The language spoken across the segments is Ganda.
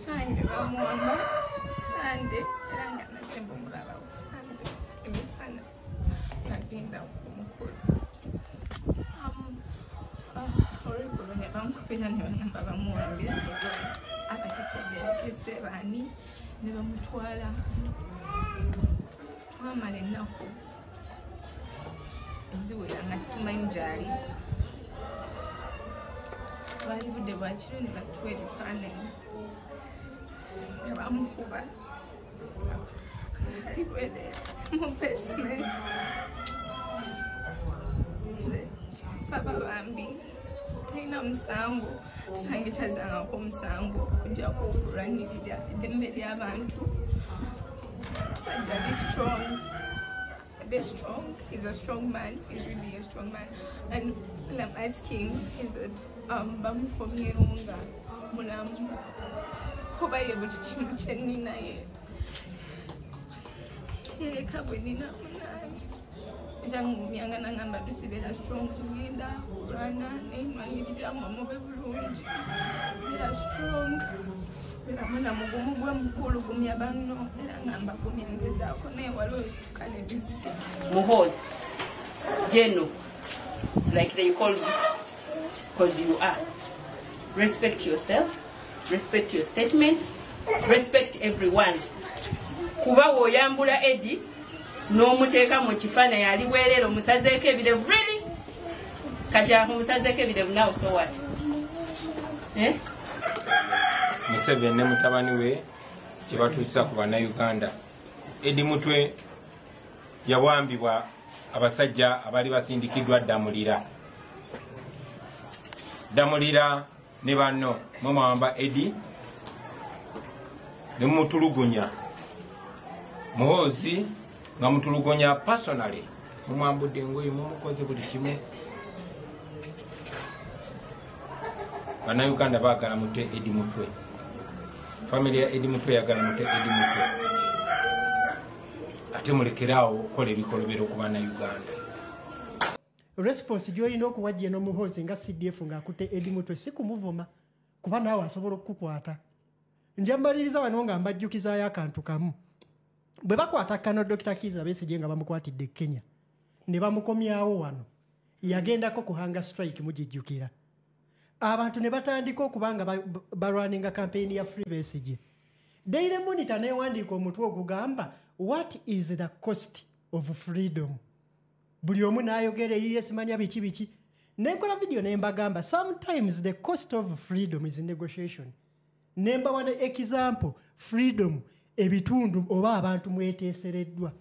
Sange bamuwamba sande era nga nasemba omulala sande emisana nagenda kumukulu olweggulo ne bamukubira ne bagamba bamuwambira abatategerekese baani ne bamutwala twamala ennaku eziwera nga tutumanyi gyali bwali budde bwakiro ne batuwa ebifaananyi nga bamukuba ali bwere mu basementi nze kikusaba bambi talina musango kitange tazangako omusango okujjako okulwanirira eddembe ly'abantu sajja be strong be strong he's a strong man he's really a strong man and all i'm asking is that um, bamukomyewo nga mulamu kuba ye buli kimu kyeninaye yeka bwe nina munange nzangumyanga nangamba tusibeera strong kulinda kulwana nenwangirira mamube bulungi era strong era mwana mugumu gwe mukulu gumya banno era ngamba gumyangezaako naye waliwo etuka nebizibu muhozi geno like they call you because you are respect yourself respect your statements respect everyone kuba woyambula edi n'omuteeka mu kifaananyi ali bwereere omusazeeko ebirevu really kati amusazeeko ebirevu nawe so what eh? museveni ne mutabani we kyebatuusa ku bannayuganda edi mutwe yawambibwa abasajja abali basindikiddwa ddamulira ddamulira ne banno mwe mwawamba edi ne mumutulugunya muhoozi nga mutulugunya personally mumwambudde engoye mumukoze buli kimu banauganda bagala mute edi mutwe famiry ya edi mutwe yagala mute edi mutwe ate mulekeraawo okukola ebikolobero ku banauganda response gyoyina okuwa jeno muhozi nga cdf nga akute edi mutwe sikumuvuma kuba naawe asobola okukukwata nja mmaliriza wano nga mbajjukizayo akantu kamu bwe bakwata kano dokita kiza besigye nga bamukwatidde e kenya ne bamukomyawo wano yagendako ku hanga strike mugijjukira abantu ne batandika okuba nga balwaninga kampeyini ya free besigye daily monitor newandiika omutwe ogugamba what is the cost of freedom buli omu n'ayogera eyiye simanya biki biki nenkola vidiyo ne mbagamba sometimes the cost of freedom is negotiation ne mbawa ne example freedom ebitundu oba abantu mweteesereddwa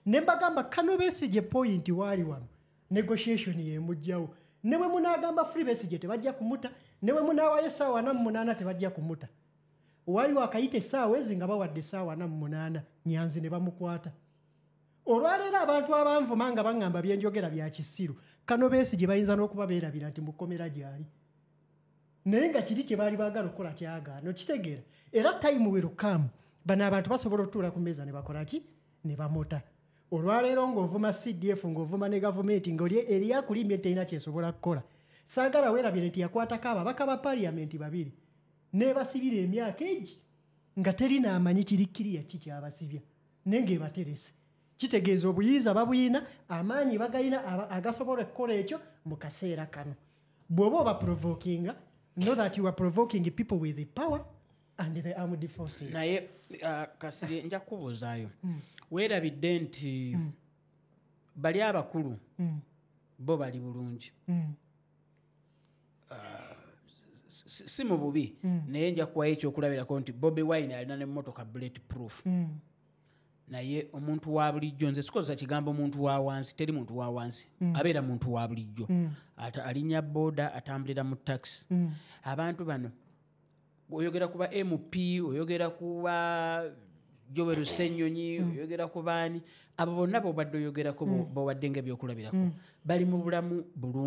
ne mbagamba kano besigye point waali wano negotiation yemujjawo ne bwe munaagamba free besigye tebajja kumuta ne bwe munaawayo essaawa ana mu munaana tebajja kumuta waliwo akayita essaawa ezi nga bawadde essaawa ana mu munaana nyanzi ne bamukwata olwaleero abantu abanvuma nga baŋŋamba byenjogera bya kisiru kano beesi gye bayinza n'okuba beerabira nti mukomera gyali naye nga kiri kye baali baagala okukola kyagaana okitegeera era tayimu werukamu bano abantu basobola otuula ku meeza ne bakola ki ne bamuta olwaleero ng'ovuma cdf ng'ovuma ne gavumenti ngaoli eriyakulimbye terina kyesobola kukola saagala weerabire nti yakwatako ababaka ba paliyamenti babiri nebasibira emyaka egi nga terina amanyi kirikkiriya ki kyabasibya naye ngaebaterese kitegeeza obuyinza babuyina amaanyi bagalina agasobola okukola ekyo mu kaseera kano bw'oba oba provokinga know that you are provoking people with the power and the armed forces naye uh, kasiri nja kubuuzaayo mm. weerabidde nti mm. bali abakulu mm. bo bali bulungi mm. si mu bubi mm. naye nja kuwayo ekyokulabirako nti bobi wine alina nemotoka bullet proof mm. naye omuntu wa bulijjo nze sikozesa kigambo muntu wa wansi teri muntu wa wansi mm. abeera muntu wa bulijjo mm. alinya boda atambulira mu taxi mm. abantu bano oyogera kuba mp oyogera kuba jowero senyonyi mm. oyogera ku baani abo bonna bobadde oyogerako mm. bowadde nga ebyokulabirako mm. bali mu bulamu bulungi